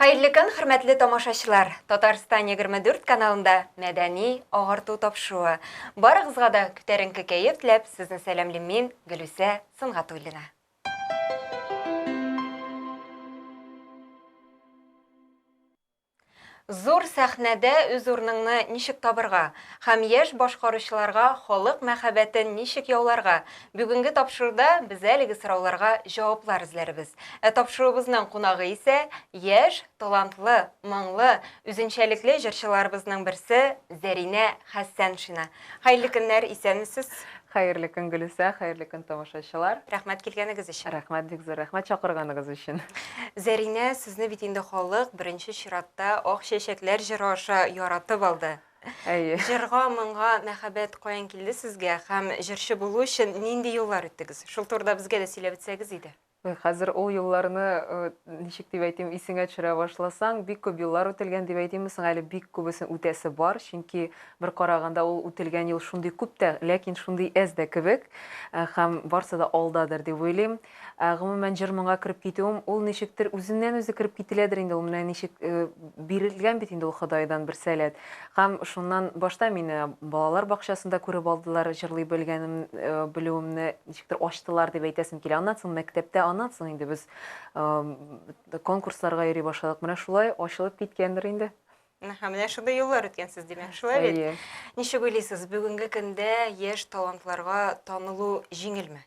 Хәерле көн, хөрмәтле тамашачылар! Татарстан егерме дүрт каналында мәдәни агарту тапшыруы. Барыгызга да күтәренке кәеф теләп, сезне сәламлим мин, Гөлүсә Сөнгатуллина. Зур сәхнәдә үз урыныңны ничек табырга һәм яшь башкаручыларга халык мәхәббәтен ничек яуларга, Бүгенге тапшыруда без әлеге сорауларга җаваплар эзләрбез. Ә тапшыруыбызның кунагы исә яшь, талантлы, моңлы, үзенчәлекле җырчыларыбызның берсе Зәринә Хәссәншина. Хәерле көннәр, исәнмесез? Хәерле көн, Гөлүсә, хәерле көн, тамашачылар. Рәхмәт килгәнегез өчен. Рәхмәт, бик зур рәхмәт чакырганыгыз өчен. Зәринә, сезне бит инде халык беренче чиратта Ак чәчәкләр җыры аша яратып алды. Әйе. Җырга, моңга мәхәббәт каян килде сезгә һәм җырчы булу өчен нинди юллар үттегез? Шул турыда безгә дә сөйләп үтсәгез иде. Ой, хәзер ул юлларны, ничек дип әйтим, исеңә төшерә башласаң, бик күп юллар үтелгән дип әйтимме соң әле, бик күбесен үтәсе бар, чөнки бер караганда ул үтелгән юл шундый күп тә, ләкин шундый әз дә кебек, һәм барсы да алдадыр дип уйлыйм. Ә, гомумән, җыр-моңга кереп китүем, ул ничектер үзеннән-үзе кереп кителәдер инде, ул менә ничек э, бирелгән бит инде ул Ходайдан бер сәләт. Һәм шуннан башта мине балалар бакчасында күреп алдылар, җырлый белгәнем, э, белүемне ничектер ачтылар дип әйтәсем килә. Аннан соң мәктәптә, аннан соң инде без э, конкурсларга йөри башладык. Менә шулай ачылып киткәндер инде. Әһә, менә шундый юллар үткәнсез, димәк, шулай бит? Әйе. Ничек уйлыйсыз, бүгенге көндә яшь талантларга танылу җиңелме?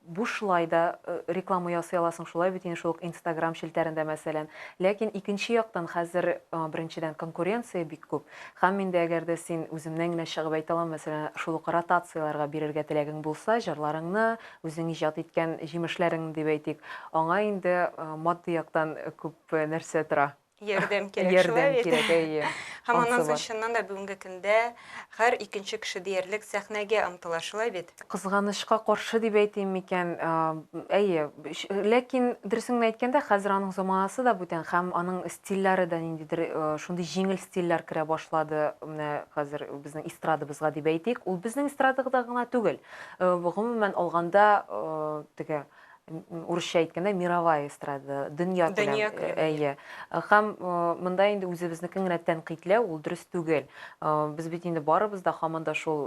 Бушлай да реклама ясый аласың шулай бит инде шул ук инстаграм челтәрендә мәсәлән. Ләкин икенче яктан хәзер беренчедән конкуренция бик күп. Хәм инде әгәр дә син, үземнән генә чыгып әйтә алам, мәсәлән шул ук ротацияләргә бирергә теләгең булса җырларыңны, үзең иҗат иткән җимешләреңне дип әйтик, аңа инде матди яктан күп нәрсә тора. Ярдәм кирәк, ярдәм шулай бит. Ярдәм кирәк, әйе. Һәм аннан соң чыннан да бүгенге көндә һәр икенче кеше диярлек сәхнәгә омтыла, шулай бит? Кызганычка каршы дип әйтим микән, әйе. Ләкин дөресен генә әйткәндә, хәзер аның заманасы да бүтән һәм аның стильләре дә ниндидер шундый җиңел стильләр керә башлады менә хәзер безнең эстрадабызга дип әйтик. Ул безнең эстрадада гына түгел, гомумән алганда теге урысча әйткәндә мировая эстрада дөнья күләм әйе һәм монда инде үзебезнекен генә тәнкыйтьләү ул дөрес түгел без бит инде барыбыз да һаман да шул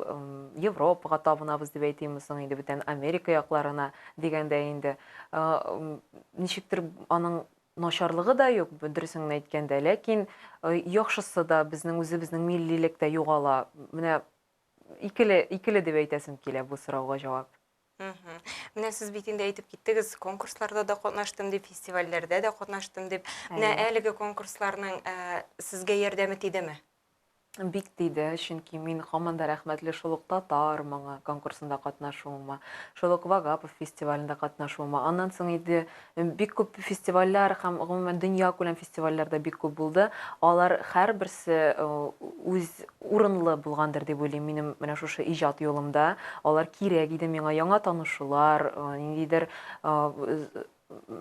европага табынабыз дип әйтимме соң инде бүтән америка якларына дигәндә инде ничектер аның начарлыгы да юк дөресен әйткәндә ләкин яхшысы да безнең үзебезнең миллилек тә югала менә икеле икеле дип әйтәсем килә бу сорауга җавап Мгм. Менә сез бит инде әйтеп киттегез, конкурсларда да катнаштым дип, фестивальләрдә дә катнаштым дип. Менә Әйе. әлеге конкурсларның ә, сезгә ярдәме тидеме? Бик тиде, чөнки мин һаман да рәхмәтле шул ук татар моңы конкурсында катнашуыма, шул ук Вагапов фестивалендә катнашуыма. Аннан соң инде Бик күп фестивальләр һәм гомумән дөньякүләм фестивальләр дә бик күп булды. Алар һәрберсе үз урынлы булгандыр дип уйлыйм минем менә шушы иҗат юлымда. Алар кирәк иде миңа, яңа танышулар, ниндидер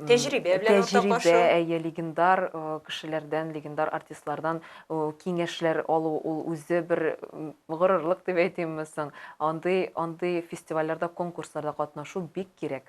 Тәҗрибә белән уртаклашу. Тәҗрибә, әйе, легендар кешеләрдән, легендар артистлардан киңәшләр алу, ул үзе бер горурлык дип әйтимме соң. Андый, андый фестивальләрдә, конкурсларда катнашу бик кирәк.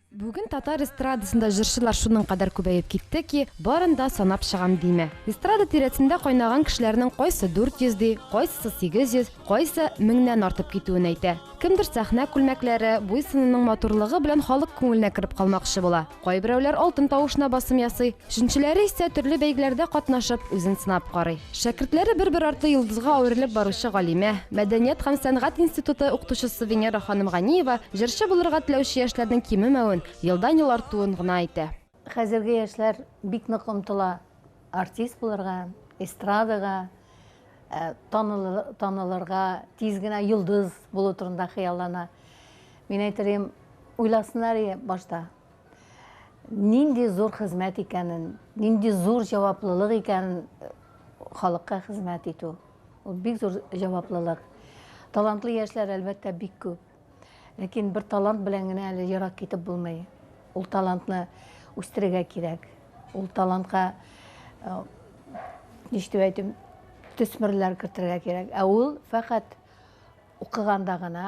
Бүген татар эстрадасында җырчылар шуның кадәр күбәеп китте ки, барын да санап чыгам димә. Эстрада тирәсендә кайнаган кешеләрнең кайсы 400 ди, кайсысы 800, кайсы меңнән артып китүен әйтә. Кемдер сәхнә күлмәкләре, буй-сынының матурлыгы белән халык күңеленә кереп калмакчы була. Кайберәүләр алтын тавышына басым ясый. Чүнчеләре исә төрле бәйгеләрдә катнашып, үзен сынап карый. Шәкертләре бер-бер артлы йолдызга әверелеп баручы галимә, мәдәният һәм сәнгать институты укытучысы Венера ханым Ганиева җырчы булырга теләүче яшьләрнең кимемәвен, елдан-ел артуын гына әйтә. Хәзерге яшьләр бик нык омтыла артист булырга, эстрадага, танылырга, тиз генә йолдыз булу турында хыяллана. Мин әйтер идем, уйласыннар башта, Нинди зур хезмәт икәнен, нинди зур җаваплылык икәнен э, халыкка хезмәт итү. Ул бик зур җаваплылык. Талантлы яшьләр әлбәттә бик күп. Ләкин бер талант белән генә әле ерак китеп булмый. Ул талантны үстерергә кирәк. Ул талантка э, ничек әйтим, төсмерләр кертергә кирәк. Ә ул фәкать укыганда гына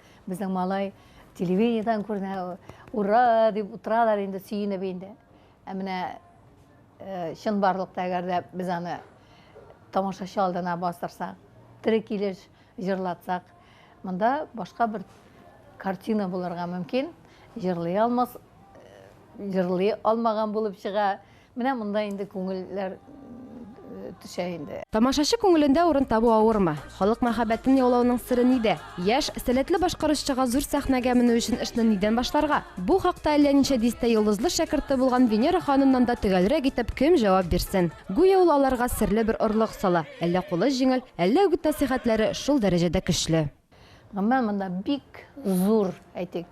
Безнең малай телевидениедән күренә, ура дип утыралар инде, сөенеп инде. Ә менә э, чынбарлыкта әгәр дә без аны тамашачы алдына бастырсак, тере килеш җырлатсак, монда башка бер картина булырга мөмкин. Җырлый алмас, э, җырлый алмаган булып чыга. Менә монда инде күңелләр төшә инде. Тамашачы күңелендә урын табу авырмы? Халык мәхәббәтен яулауның сере нидә? Яшь, сәләтле башкаручыга зур сәхнәгә менү өчен эшне нидән башларга? Бу хакта әллә ничә дистә йолдызлы шәкерте булган Венера ханымнан да төгәлрәк итеп кем җавап бирсен? Гүя ул аларга серле бер орлык сала, әллә кулы җиңел, әллә үгет-нәсыйхәтләре шул дәрәҗәдә көчле. Гомумән, монда бик зур, әйтик,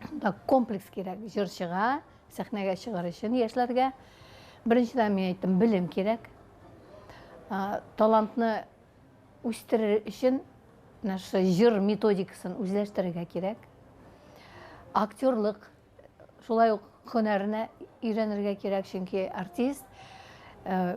монда комплекс кирәк, җырчыга, Сәхнәгә чыгар өчен яшьләргә, беренчедән, мин әйттем, белем кирәк. Талантны үстерер өчен наш җыр методикасын үзләштерергә кирәк. Актерлык шулай ук һөнәренә өйрәнергә кирәк, чөнки артист э,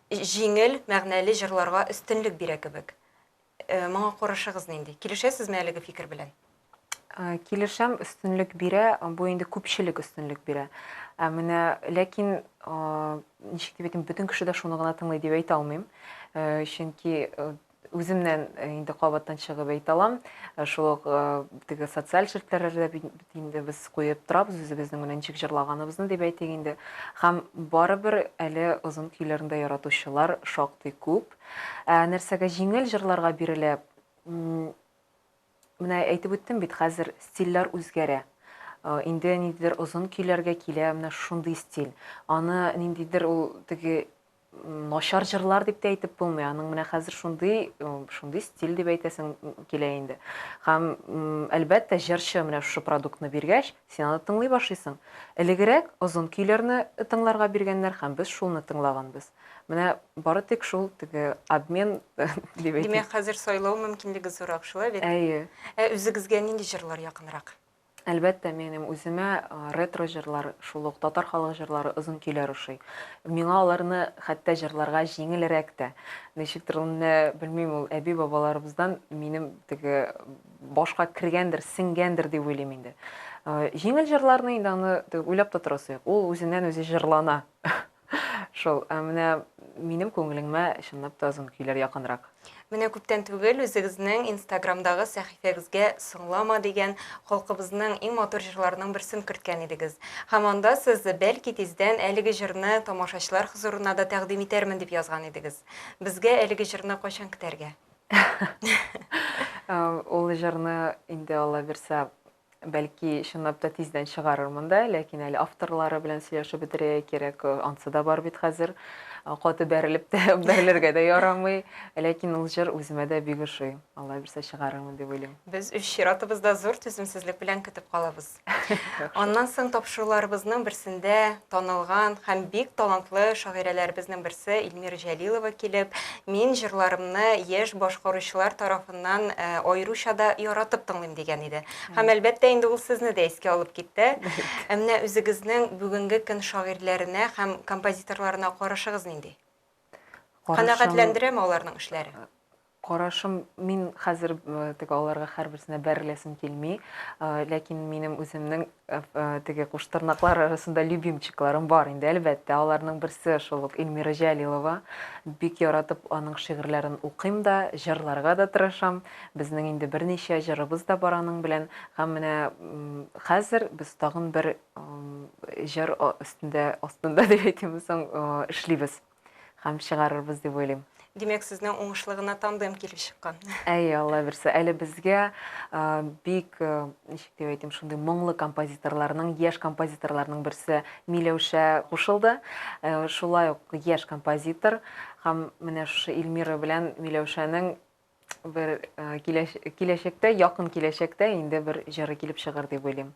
җиңел, мәгънәле җырларга өстенлек бирә кебек. Э, моңа карашыгыз нинди? Килешәсезме әлеге фикер белән? Э, килешәм, өстенлек бирә, бу инде күпчелек өстенлек бирә. Ә менә ләкин ничек дип әйтим, бөтен кеше дә шуны гына тыңлый дип әйтә алмыйм. Э, чөнки Үземнән инде кабаттан чыгып әйтә алам. Шул ук теге социаль челтәрләрдә бит инде без куеп торабыз үзебезнең менә ничек җырлаганыбызны дип әйтик инде. Һәм барыбер әле озын көйләрне дә яратучылар шактый күп. Ә нәрсәгә җиңел җырларга бирелә? Менә әйтеп үттем бит, хәзер стильләр үзгәрә. Инде ниндидер озын көйләргә килә менә шундый стиль. Аны ниндидер ул теге начар җырлар дип тә әйтеп булмый. Аның менә хәзер шундый, шундый стиль дип әйтәсең килә инде. Һәм әлбәттә, җырчы менә шушы продуктны биргәч, син аны тыңлый башлыйсың. Элегрәк озын көйләрне тыңларга биргәннәр һәм без шуны тыңлаганбыз. Менә бары тик шул теге обмен дип әйтә. Димәк, хәзер сайлау мөмкинлеге зуррак шулай бит? Әйе. Ә үзегезгә нинди җырлар якынрак? Әлбәттә, минем үземә ретро җырлар, шул ук татар халык җырлары, озын көйләр ошый. Миңа аларны хәтта җырларга җиңелрәк тә. Ничектер аны, белмим, ул әби-бабаларыбыздан минем теге башка кергәндер, сеңгәндер дип уйлыйм инде. Җиңел җырларны инде аны уйлап та торасы юк. Ул үзеннән-үзе җырлана. Шул, ә менә минем күңелеңмә чынлап та озын көйләр якынрак. Менә күптән түгел үзегезнең инстаграмдагы сәхифәгезгә Соңлама дигән халкыбызның иң матур җырларының берсен керткән идегез. Һәм анда сез, бәлки, тиздән әлеге җырны тамашачылар хозурына да тәкъдим итәрмен дип язган идегез. Безгә әлеге җырны кайчан көтәргә? Ул җырны инде, Алла бирса, Бәлки, чынлап та тиздән чыгарырмын да, ләкин әле авторлары белән сөйләшеп бетерергә кирәк. Ансы да бар бит хәзер. Каты бәрелеп тә, бәрелергә дә ярамый. Ләкин ул җыр үземә дә бик ошый. Алла бирсә чыгарырмын дип уйлыйм. Без үз чиратыбызда зур түземсезлек белән көтеп калабыз. Аннан соң тапшыруларыбызның берсендә танылган һәм бик талантлы шагыйрәләребезнең берсе Илмира Җәлилова килеп, мин җырларымны яшь башкаручылар тарафыннан Нан аеруча да яратып тыңлыйм дигән иде. Һәм әлбәттә инде ул сезне дә искә алып китте. Ә менә үзегезнең бүгенге көн шагыйрьләренә һәм композиторларына карашыгыз нинди? Канәгатьләндерәме аларның эшләре? Карашым, мин хәзер теге аларга һәрберсенә бәреләсем килми, ләкин минем үземнең Теге куштырнаклар арасында любимчикларым бар инде, әлбәттә. Аларның берсе шул ук Эльмира Җәлилова. Бик яратып аның шигырьләрен укыйм да, җырларга да тырышам. Безнең инде берничә җырыбыз да бар аның белән. Һәм менә хәзер без тагын бер җыр өстендә, астында дип әйтимме соң, эшлибез. һәм чыгарырбыз дип уйлыйм. Димәк, сезнең уңышлы гына тандем килеп чыккан. Әйе, Алла бирсә. Әле безгә бик, ничек дип әйтим, шундый моңлы композиторларның, яшь композиторларның берсе Миләүшә кушылды. Шулай ук яшь композитор һәм менә шушы Эльмира белән Миләүшәнең бер киләчәктә, якын киләчәктә инде бер җыры килеп чыгыр дип уйлыйм.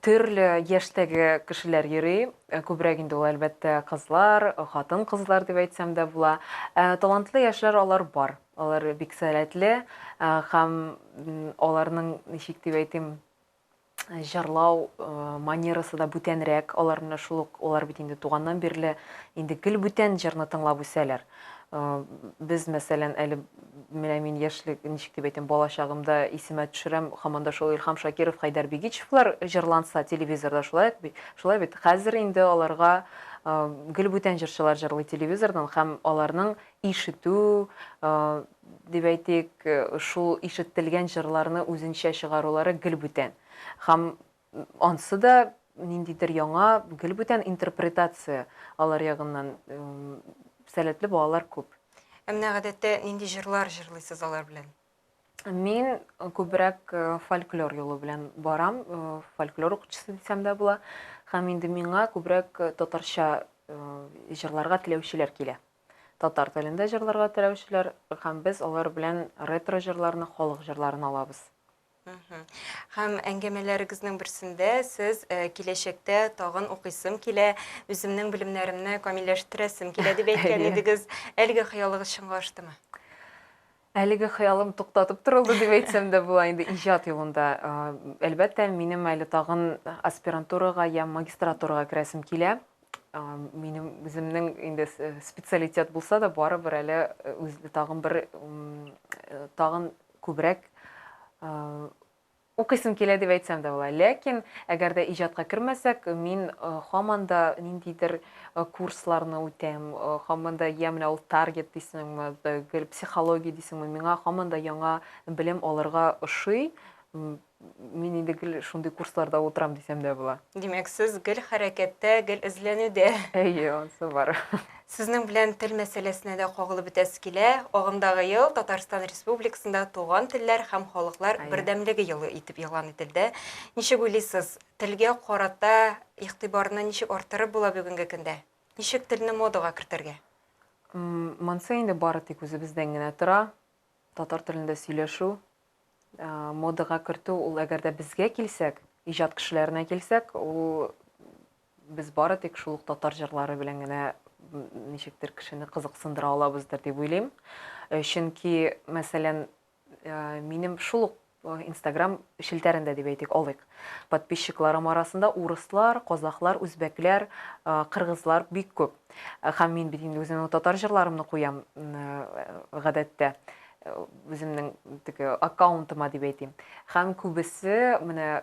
Төрле яшьтәге кешеләр йөри. Э, күбрәк инде ул, әлбәттә, кызлар, хатын-кызлар дип әйтсәм дә була. Э, талантлы яшьләр алар бар. Алар бик сәләтле э, һәм аларның, ничек дип әйтим, җырлау манерасы да бүтәнрәк. Алар менә шул ук, алар бит инде туганнан бирле инде гел бүтән җырны тыңлап үсәләр. Э, без мәсәлән әле менә мин яшьлек, ничек дип әйтәм, балачагымда исемә төшерәм, һаман да шул Илһам Шакиров, Хәйдәр Бигичевлар җырланса телевизорда шулай ук бит. Шулай бит. Хәзер инде аларга э, гел бүтән җырчылар җырлый телевизордан һәм аларның ишетү, э, дип әйтик, э, шул ишетелгән җырларны үзенчә чыгарулары гел бүтән. Һәм Ансы да ниндидер яңа, гел бүтән интерпретация, алар ягыннан сәләтле балалар күп. Ә менә гадәттә нинди җырлар җырлыйсыз алар белән? Мин күбрәк э, фольклор юлы белән барам, э, фольклор укытучысы дисәм дә була. Һәм инде миңа күбрәк э, татарча җырларга теләүчеләр килә. Татар телендә җырларга теләүчеләр һәм без алар белән ретро җырларны, халык җырларын алабыз. Һәм әңгәмәләрегезнең берсендә сез э, киләчәктә тагын укыйсым килә, үземнең белемнәремне камилләштерәсем килә дип әйткән Әйе. идегез. Әлеге хыялыгыз чынга аштымы? Әлеге хыялым туктатып торылды дип әйтсәм дә була инде иҗат юлында. Э, Әлбәттә, минем әле тагын аспирантурага я магистратурага керәсем килә. Э, Минем үземнең инде с- э, специалитет булса да, барыбер әле э, үз тагын бер м, э, тагын Күбрәк укыйсым килә дип әйтсәм дә була. Ләкин, әгәр дә иҗатка кермәсәк, мин һаман да ниндидер курсларны үтәм, һаман да я менә ул таргет дисеңме, гел психология дисеңме, миңа һаман да яңа белем алырга ошый. Мин инде гел шундый курсларда утырам дисәм дә була. Димәк, сез гел хәрәкәттә, гел эзләнүдә. Әйе, ансы бар. Сезнең белән тел мәсьәләсенә дә кагылып үтәсе килә. Агымдагы ел Татарстан Республикасында Туган телләр һәм халыклар Әйе. бердәмлеге елы итеп игълан ителде. Ничек уйлыйсыз, телгә карата игътибарны ничек арттырып була бүгенге көндә? Ничек телне модага кертергә? М, Монсы инде бары тик үзебездән генә тора. Татар телендә сөйләшү, модага кертү, ул әгәр дә безгә килсәк, иҗат кешеләренә килсәк, ул без бары тик шул ук татар җырлары белән генә ничектер кешене кызыксындыра алабыздыр дип уйлыйм. Э, чөнки, мәсәлән, э, минем шул ук Инстаграм челтәрендә дип әйтик, алыйк. Подписчикларым арасында урыслар, казахлар, үзбәкләр, кыргызлар бик күп. Һәм мин бит инде үземнең татар җырларымны куям гадәттә үземнең теге аккаунтыма дип әйтим. Һәм күбесе менә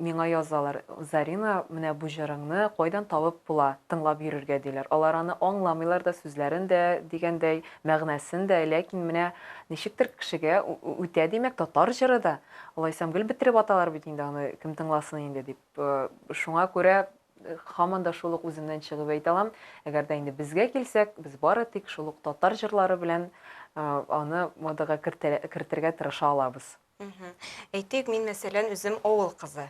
Миңа язалар, Зарина, менә бу җырыңны кайдан табып була, тыңлап йөрергә, диләр. Алар аны аңламыйлар да, сүзләрен дә, дигәндәй, мәгънәсен дә, ләкин менә ничектер кешегә үтә, димәк, татар җыры да. Алайсам, гел бетереп аталар бит инде аны, кем тыңласын инде дип. Шуңа күрә һаман да шул ук үземнән чыгып әйтә алам, әгәр дә инде безгә килсәк, без бары тик шул ук татар җырлары белән аны модага кертергә тырыша алабыз. Мгм. Әйтик, мин, мәсәлән, үзем авыл кызы.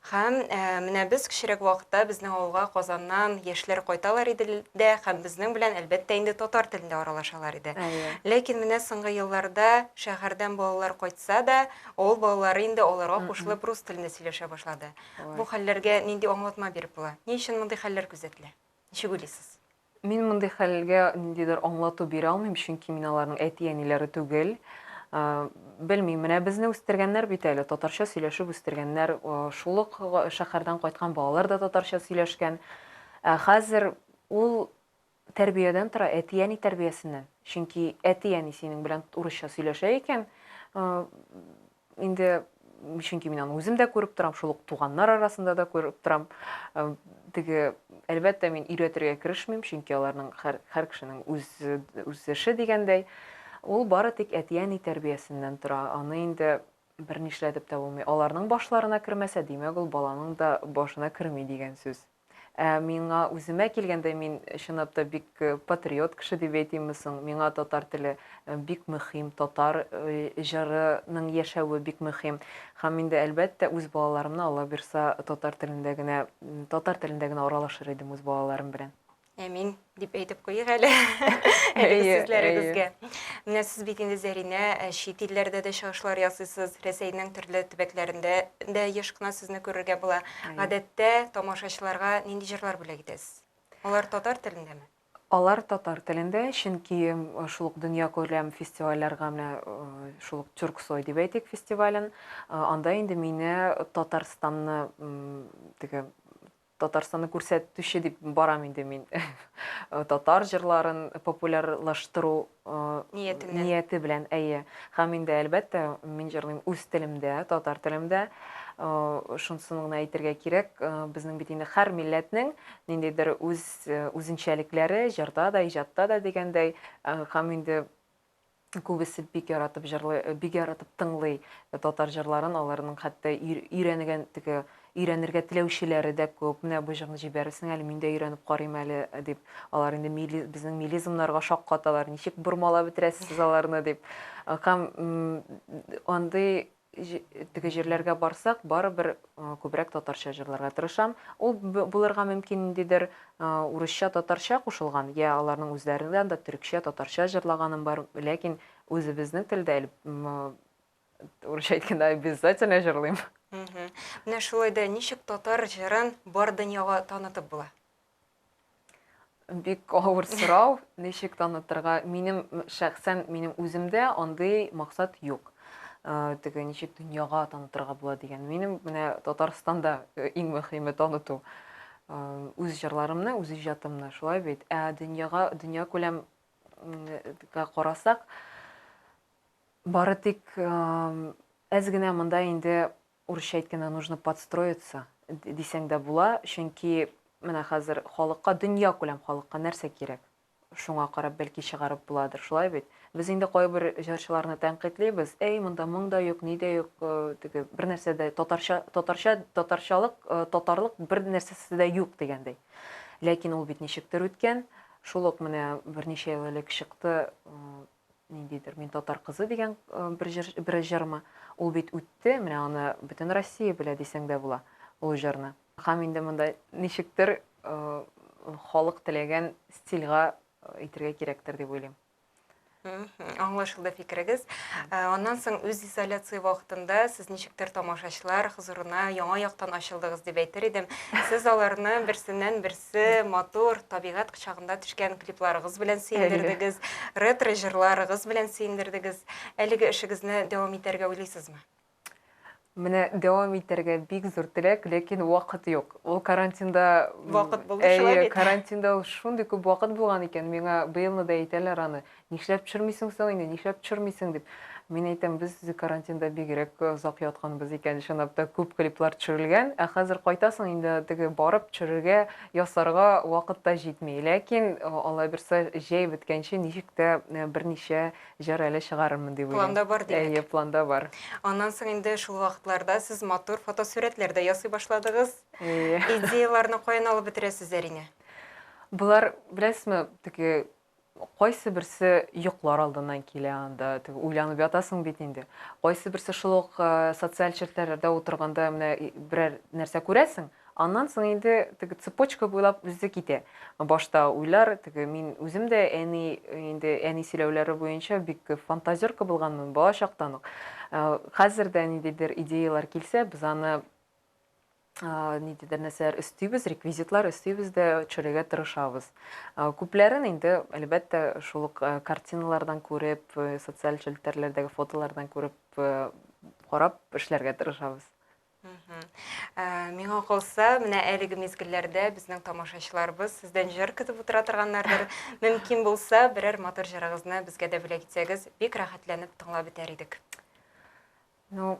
Һәм ә, менә без кечерәк вакытта безнең авылга Казаннан яшьләр кайталар иде л- дә һәм безнең белән, әлбәттә, инде татар телендә аралашалар иде. Әйе. Ләкин менә соңгы елларда шәһәрдән балалар кайтса да, авыл балалары инде аларга Мгм. кушылып рус телендә сөйләшә башлады. Бу Ой. хәлләргә нинди аңлатма биреп була? Ни өчен мондый хәлләр күзәтелә? Ничек уйлыйсыз? Мин мондый хәлгә ниндидер аңлату бирә алмыйм, чөнки мин аларның әти-әниләре түгел. Белмим, менә безне үстергәннәр бит әле, татарча сөйләшеп үстергәннәр. Шул ук шәһәрдән кайткан балалар да татарча сөйләшкән. Ә хәзер ул тәрбиядән тора, әти-әни тәрбиясеннән. Чөнки әти-әни синең белән урысча сөйләшә икән, Инде, чөнки мин аны үзем дә күреп торам, шул ук туганнар арасында да күреп торам. Теге, әлбәттә, мин өйрәтергә керешмим, чөнки аларның һәр, һәр кешенең үз, үз эше дигәндәй. Ул бары тик әти-әни тәрбиясеннән тора. Аны инде бернишләтеп тә булмый. Аларның башларына кермәсә, димәк, ул баланың да башына керми дигән сүз. Ә миңа үземә килгәндә, мин чынлап та бик патриот кеше дип әйтимме соң? Миңа татар теле бик мөһим, татар җырының яшәве бик мөһим. Һәм инде, әлбәттә, үз балаларымны, Алла бирса, татар телендә генә, татар телендә генә аралашыр идем үз балаларым белән. Әмин, дип әйтеп куйыйк әле әлеге сүзләрегезгә. Менә сез бит инде Зәринә, ә, чит илләрдә дә чыгышлар ясыйсыз, Рәсәйнең төрле төбәкләрендә дә еш кына сезне күрергә була. Гадәттә тамашачыларга нинди җырлар бүләк итәсез? Алар татар телендәме? Алар татар телендә, чөнки шул ук дөньякүләм фестивальләргә менә шул ук Тюрксой дип әйтик фестивален, анда инде мине Татарстанны теге Татарстанны күрсәтүче дип барам инде мин. Татар җырларын популярлаштыру нияте белән, әйе. Һәм инде, әлбәттә, мин җырлыйм үз телемдә, татар телемдә. Шунысын гына әйтергә кирәк, безнең бит инде һәр милләтнең ниндидер үз үзенчәлекләре, җырда да, иҗатта да дигәндәй. Һәм инде күбесе бик яратып җырлый, э, бик яратып тыңлый э, татар җырларын, аларның хәтта өйрәнегән теге өйрәнергә теләүчеләре дә күп. Менә бу җырны җибәрсең әле, мин дә өйрәнеп карыйм әле э, дип. Алар инде мили, безнең милизмнарга шаккаталар. Ничек бормалап бетерәсез аларны дип. Э, һәм андый Теге җирләргә барсак, барыбер күбрәк татарча җырларга тырышам. Ул булырга мөмкин ниндидер урысча-татарча кушылган, я аларның үзләреннән дә төрекчә, татарча җырлаганым бар, ләкин үзебезнең телдә урысча әйткәндә обязательно җырлыйм. Менә шулай да ничек татар җырын бар дөньяга танытып була? Бик авыр сорау, ничек танытырга? Минем шәхсән минем үземдә андый максат юк. Э, теге ничек дөньяга танытырга була дигән. Минем менә Татарстанда э, иң мөһиме таныту. Э, үз җырларымны, үз иҗатымны, шулай бит. Ә дөньяга, дөнья күләм карасак, бары тик әз генә монда инде Урысча әйткәндә нужно подстроиться дисәң дә була, чөнки менә хәзер халыкка, дөньякүләм халыкка нәрсә кирәк? Шуңа карап бәлки чыгарып буладыр, шулай бит? Без инде кайбер җырчыларны тәнкыйтьлибез, әй, монда моң да юк, ни дә юк, теге, бер нәрсә дә, татарча, татарча, татарчалык, татарлык бер нәрсәсе дә юк дигәндәй. Ләкин ул бит ничектер үткән, шул ук менә берничә ел элек чыкты, ниндидер мин татар кызы дигән бер җыр бер җырмы ул бит үтте менә аны бөтен россия белә дисәң дә була ул җырны һәм инде монда ничектер халык теләгән стильга итергә кирәктер дип уйлыйм аңлашылды фикерегез аннан соң үз изоляция вакытында сез ничектер тамашачылар хозурына яңа яктан ачылдыгыз дип әйтер идем сез аларны берсеннән берсе төсле, матур табигать кочагында төшкән клипларыгыз белән сөендердегез, ретро җырларыгыз белән сөендердегез. Әлеге эшегезне дәвам итәргә уйлыйсызмы? Менә дәвам итәргә бик зур теләк, ләкин вакыт юк. Ул карантинда Вакыт булды шулай бит. Карантинда ул шундый күп вакыт булган икән, миңа быелны да әйтәләр аны. Нишләп төшермисең соң инде, нишләп төшермисең, дип. Мин әйтәм, без карантинда бигрәк озак ятканбыз икән, чынлап та күп клиплар төшерелгән, ә хәзер кайтасың, инде теге барып төшерергә, ясарга вакыт та җитми. Ләкин, Алла бирса, җәй беткәнче ничек тә берничә җыр әле чыгарырмын дип уйлыйм. Планда бар, димәк. Әйе, планда бар. Аннан соң инде шул вакытларда сез матур фотосурәтләр дә ясый башладыгыз. Әйе. Идеяләрне каян алып бетерәсез, Зәринә? Болар, беләсезме, теге Кайсы берсе йоклар алдыннан килә анда, теге уйланып ятасың бит инде. Кайсы берсе шул ук социаль челтәрләрдә утырганда менә берәр нәрсә күрәсең, аннан соң инде теге цепочка буйлап үзе китә. Башта уйлар, теге мин үзем дә әни, инде әни сөйләүләре буенча бик фантазерка булганмын бала чактан ук. Хәзер дә ниндидер идеяләр килсә, без аны нидедер нәрсәләр өстибез, реквизитлар өстибез дә төшерергә тырышабыз. Күпләрен инде, әлбәттә, шул ук картиналардан күреп, социаль челтәрләрдәге фотолардан күреп, карап эшләргә тырышабыз. Миңа калса, менә әлеге мизгелләрдә безнең тамашачыларыбыз сездән җыр көтеп утыра торганнардыр. Мөмкин булса, берәр матур җырыгызны безгә дә бүләк итсәгез, бик рәхәтләнеп тыңлап бетәр идек. Ну,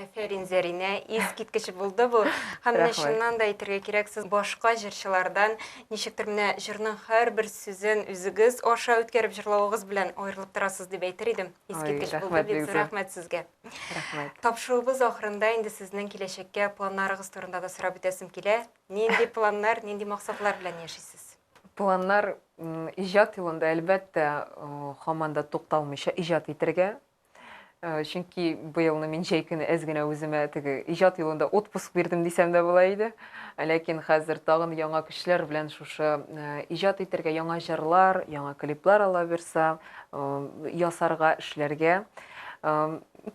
Әфәрин, Зәринә, искиткеч булды бу. Һәм менә чыннан да әйтергә кирәк, сез башка җырчылардан ничектер менә җырның һәрбер сүзен үзегез аша үткәреп җырлавыгыз белән аерылып торасыз дип әйтер идем. Искиткеч булды, бик зур рәхмәт сезгә. Рәхмәт. Тапшыруыбыз ахырында инде сезнең киләчәккә планнарыгыз турында да сорап үтәсем килә. Нинди планнар, нинди максатлар белән яшисез? Планнар иҗат юлында, әлбәттә, хаманда тукталмыйча иҗат итәргә, Э, чөнки быелны мин җәй көне әз генә үземә теге иҗат юлында отпуск бирдем дисәм дә була иде ләкин хәзер тагын яңа көчләр белән шушы э, иҗат итәргә яңа җырлар яңа клиплар ала бирса э, ясарга эшләргә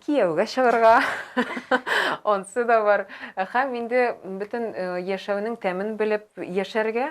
кияүгә чыгарга онсы да бар һәм инде бөтен яшәүнең тәмен белеп яшәргә